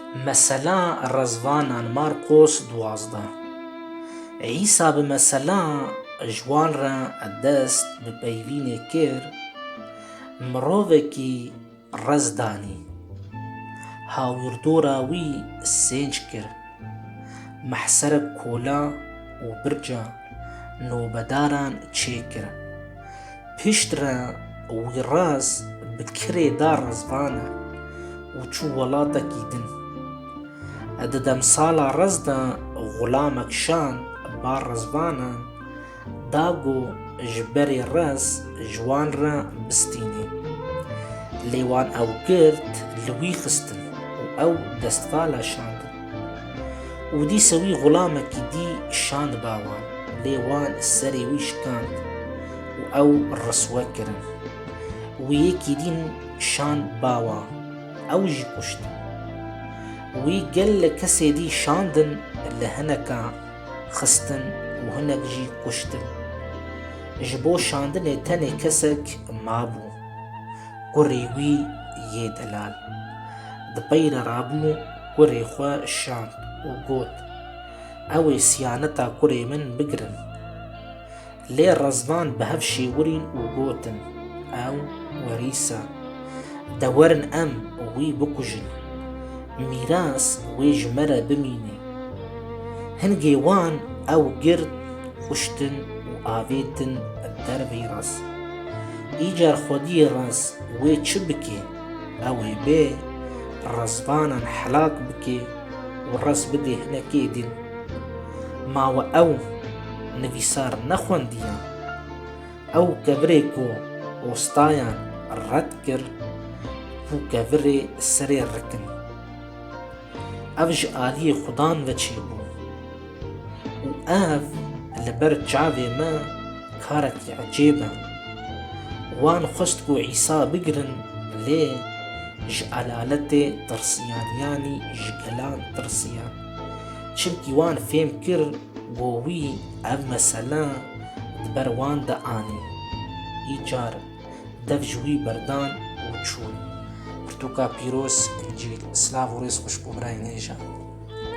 Mesela Rezvanan Marqos duwazdeh Îsa bi mesela ji wan re dest bi peyvînê kir, mirovekî rez danî, hawirdora wî sênc kir, mehserek kola û birca nobedaran çêkir. Piştre Wîraz bi kirê da rezvane û çû welatekî din. Di demsala rez de Xulamek Şan ba rezvanan da ku ji berê rez ji wan re bistînê. Lê wan ew gird li wî xistin û ew destvala şandin. Û dîsa wî xulamekî dî şand ba wan, lê wan serê wî şikand û ew riswe kirin. Wî yekî dîn şand ba wan, ew jî kuşt. Wî gelek kesê dî şandin, li hinekan xistin û hinek jî kuştin. Ji bo şandinê tenê kesek mabû, kurê wî yê delal. Di peyre rabû. Kurê xwe şand û got, Ew ê siyaneta kurê min bigirin. Lê rezvan bi hev şêwirîn û gotin, Ew werîsa. De werin em wî bikujin. Mîras wê ji me re bimîne. Hingê wan ew girt, kuştin û avêtin derveyî raz. Îcar xwediyê raz wê çi bike? Ew ê bê rizvanan helak bike û riz bide hinekê din. Ma we ew nivîsar nexwendiya. Ew kevirê ku ostayan red kir, vû kevirê serê rikin. Ev ji aliyê xudan ve çêbû û ev li ber çavê me karekî ecêb e. Wan xwest ku Îsa bigirin lê ji elaletê tirsiyan yanî ji gelan tirsiyan. Çimkî wan fêm kir ku wî ev mesele di ber wan de anî. Îcar Dev ji wî berdan û çûn. Pirtûka pîroz, Încîl, silav û rêz xweş bo birayê nêja.